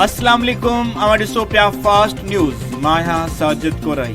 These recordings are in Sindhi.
السلام عليڪم اوهان ڏسو پيا فاسٽ نيوز مان آهيان ساجد ڪورائي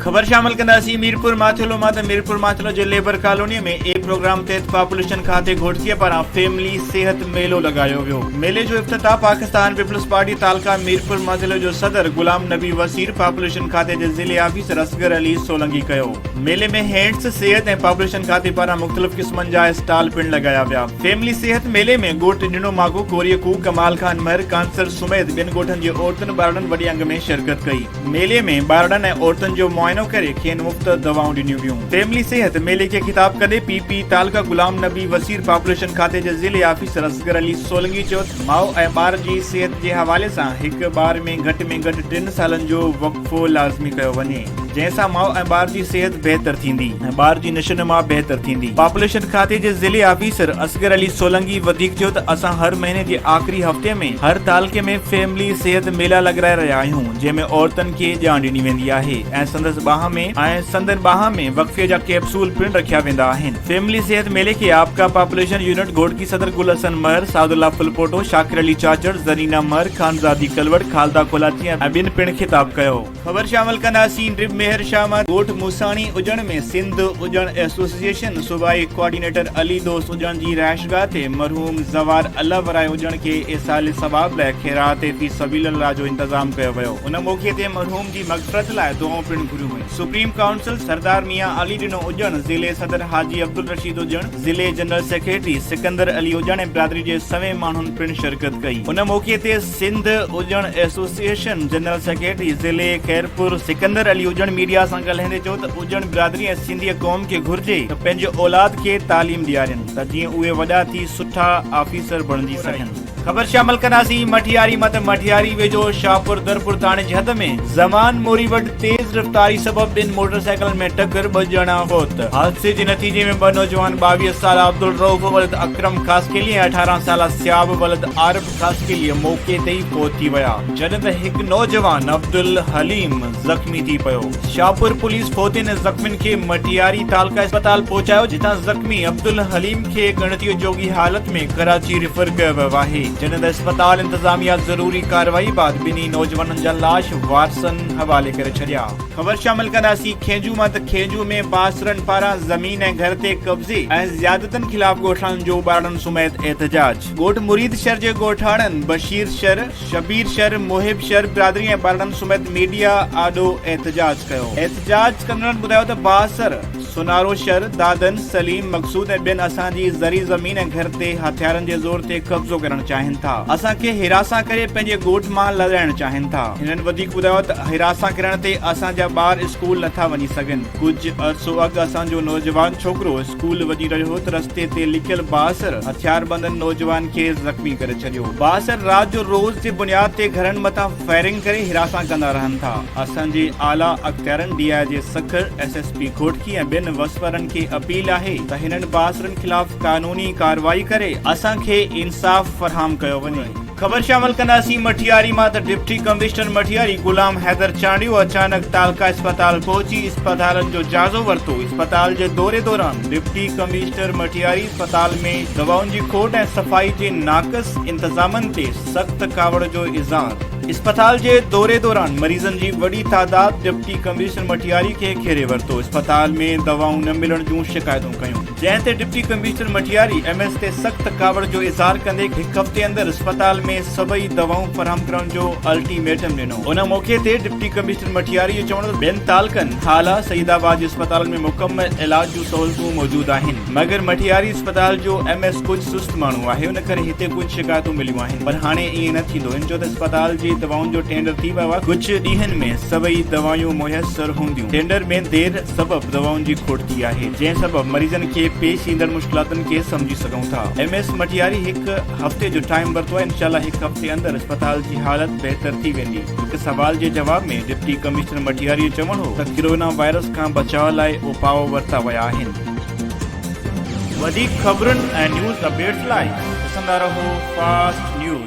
خبر شامل ڪنداسين ميرپور ماٿيلو مان ته ميرپور ماٿيلو جي ليبر ڪالوني ۾ اي پروگرام تحت پاپوليشن کاتي گهوٽڪيء پاران فيملي صحت ميلو لڳايو ويو ميلي جو افتتاح پاڪستان پيپلز پارٽي تعلقه ميرپور ماٿيلو جو صدر غلام نبي وسير پاپوليشن کاتي جي ضلعي آفيسر اصغر علي سولنگي ڪيو ميلي ۾ هينڊس، صحت ۽ پاپوليشن کاتي پاران مختلف قسمن جا اسٽال پڻ لڳايا ويا. فيملي صحت ميلي ۾ ڳوٺ ڏنو ماڳو، ڪوريء کوهه، ڪمال خان مهر، ڪانسر سميت ٻين ڳوٺن جي عورتن ٻارڙن وڏي انگ ۾ شرڪت ڪئي. ميلي ۾ ٻارڙن ۽ عورتن جو معائنو ڪري کين مفت دوائون ڏنيون ويون. فيملي صحت ميلي کي خطاب ڪندي پي پي تعلقه غلام نبي وسير پاپوليشن کاتي جي ضلعي آفيسر اصغر علي سولنگي چيو ته ماء ۽ ٻار جي صحت جي حوالي سان هڪ ٻار ۾ گهٽ ۾ گهٽ ٽن سالن جو وقفو لازمي ڪيو وڃي. جنهن سان ماء ۽ ٻار جي صحت بهتر ٿيندي ۽ ٻار جي نشو نما بهتر ٿيندي پاپوليشن کاتي جي ضلعي آفيسر اصغر علي سولنگي وڌيڪ چيو ته اسان هر مهيني جي آخري هفتي ۾ هر تعلقي ۾ فيملي صحت ميلا لڳرائي رهيا آهيون جنهن ۾ عورتن کي ڄاڻ ڏني ويندي آهي ۽ سندس ٻانهن ۾ ۽ سندن ٻانهن ۾ وقفي جا ڪيپسول پڻ رکيا ويندا آهن فيملي صحت ميلي کي آپڪا پاپوليشن يونٽ گهوٽڪي صدر گل حسن مهر سعد الله ڦلپوٽو شاڪر علي چاچڙ زرينا مهر خانزادي ڪلوڙ خالده ڪولاچي ۽ ٻين پڻ خطاب ڪيو خبر شامل ڪنداسين رب مهر شاهه مان ڳوٺ موساڻي اڄڻ ۾ سنڌ اڄڻ ايسوسيئيشن صوبائي ڪوآرڊينيٽر علي دوست اڄڻ جي رهائشگاهه تي مرحوم زوار الله ورايه اڄڻ کي ايصال ثواب لاء خيرات في سبيل الله جو انتظام ڪيو ويو ان موقعي تي مرحوم جي مغفرت لاء دعائون پڻ گهريون ويون سپريم ڪائونسل سردار ميان علي ڏنو اڄڻ ضلعي صدر حاجي عبدالرشيد اڄڻ ضلعي جنرل سيڪريٽري سڪندر علي اڄڻ ۽ برادري جي سوين ماڻهن پڻ شرڪت ڪئي ان موقعي تي Sindh Ujjan association general secretary ضلعي خيرپور سڪندر علي اجڻ ميڊيا سان ڳالهائيندي چيو ته اجڻ برادري ۽ سنڌي قوم کي گهرجي ته پنهنجي اولاد کي تعليم ڏيارين ته جيئن اهي وڏا ٿي سٺا آفيسر بڻجي سگهن. خبر شامل ڪنداسين مٺياري مان ته مٺياري ويجهو شاهپور درپور ٿاڻي جي حد ۾ زمان موري وٽ تيز رفتاري سبب ٻن موٽر سائيڪلن ۾ ٽڪر ٻه ڄڻا فوت حادثي جي نتيجي ۾ ٻه نوجوان ٻاويهه سالا عبدالرئوف ولد اڪرم خاصخيلي ۽ اٺارهن سالا صياب ولد عارب ڪلي موقعي تي ئي فوت ٿي ويا جڏهن ته هڪ نوجوان عبدالحليم زخمي ٿي پيو شاهپور پوليس فوتين ۽ زخمين کي مٽياري تعلقه اسپتال پهچايو جتان زخمي عبدالحليم کي ڳڻتيء جوڳي حالت ۾ ڪراچي ريفر ڪيو ويو آهي جڏهن ته اسپتال انتظاميا ضروري ڪارروائي بعد ٻنهي نوجوانن جا لاش وارثن حوالي ڪري ڇڏيا. خبر شامل ڪنداسين کينجو مان ته کينجو ۾ پاسرن پاران زمين ۽ گهر تي قبضي ۽ زيادتين خلاف ڳوٺاڻن جو ٻارڙن سميت احتجاج. ڳوٺ مريد شر جي ڳوٺاڻن بشير شر، شبير شر، محب شر برادري ۽ ٻارڙن سميت ميڊيا آڏو احتجاج ڪيو. احتجاج ڪندڙن ٻڌايو ته بااثر سونارو شر، دادن، سليم، مقصود ۽ ٻين اسان جي زرعي زمين ۽ گهر تي هٿيارن جي زور تي قبضو ڪرڻ چاهين ٿا. اسان کي حراسان ڪري پنهنجي ڳوٺ مان لڏائڻ چاهين ٿا. هنن وڌيڪ ٻڌايو ته حراسان ڪرڻ تي اسان جا ٻار اسڪول نٿا وڃي سگهن. ڪجهه عرصو اڳ اسان جو نوجوان ڇوڪرو پول وڄي رهيو هو ته رستي تي لڪيل بااثر هٿياربندن نوجوان کي زخمي ڪري ڇڏيو. بااثر رات جو روز جي بنياد تي گهرن مٿان فائرنگ ڪري هراسان ڪندا رهن ٿا. اسان جي اعليٰ اختيارن D I G Sukkur, S S P Ghotki ۽ ٻين وسوئرن کي اپيل آهي ته هنن بااثرن خلاف قانوني ڪارروائي ڪري اسان کي انصاف فراهم ڪيو وڃي. خبر شامل ڪنداسين مٺياري مان ته ڊپٽي ڪمشنر مٺياري غلام حيدر چانڊيو اچانڪ تعلقه اسپتال پهچي اسپتالن جو جائزو ورتو اسپتال جي دوري دوران ڊپٽي ڪمشنر مٺياري اسپتال ۾ دوائن جي کوٽ ۽ صفائي جي ناقص انتظامن تي سخت ڪاوڙ جو اظهار اسپتال جي دوري دوران مريضن جي وڏي تعداد ڊپٽي ڪمشنر مٺياري کي گهيري ورتو اسپتال ۾ دوائون نه ملڻ جون شڪايتون ڪيون. جنهن تي deputy commissioner Matiari M S تي سخت ڪاوڙ جو اظهار ڪندي هڪ هفتي اندر اسپتال ۾ سڀئي دوائون فراهم ڪرڻ جو الٽي ميٽم ڏنو ان موقعي تي ڊپٽي ڪمشنر مٽياري جو چوڻ ته ٻين تعلقن هالا سعيد آباد جي اسپتالن ۾ مڪمل علاج جون سهولتون موجود آهن مگر مٽياري اسپتال جو ايم ايس ڪجهه سست ماڻهو آهي ان ڪري هتي ڪجهه شڪايتون مليون آهن پر هاڻي ائين نه ٿيندو هن چيو ته اسپتال جي دوائن جو ٽينڊر ٿي ويو آهي ڪجهه ڏينهن ۾ سڀئي دوائون ميسر هونديون. ٽينڊر ۾ دير سبب دوائن جي کوٽ ٿي آهي، جنهن سبب مريضن کي پيش ايندڙ مشڪلاتن کي سمجهي سگهون ٿا، ايم ايس مٽياري هڪ هفتي جو ٽائيم ورتو آهي، انشاء الله هڪ هفتي اندر اسپتال جي حالت بهتر ٿي ويندي. هڪ سوال جي جواب ۾ ڊپٽي ڪمشنر مٽياري جو چوڻ هو ته ڪرونا وائرس کان بچاء لاء اپاء ورتا ويا آهن. وڌيڪ خبرن ۽ نيوز اپڊيٽس لاء ڏسندا رهو فاسٽ نيوز.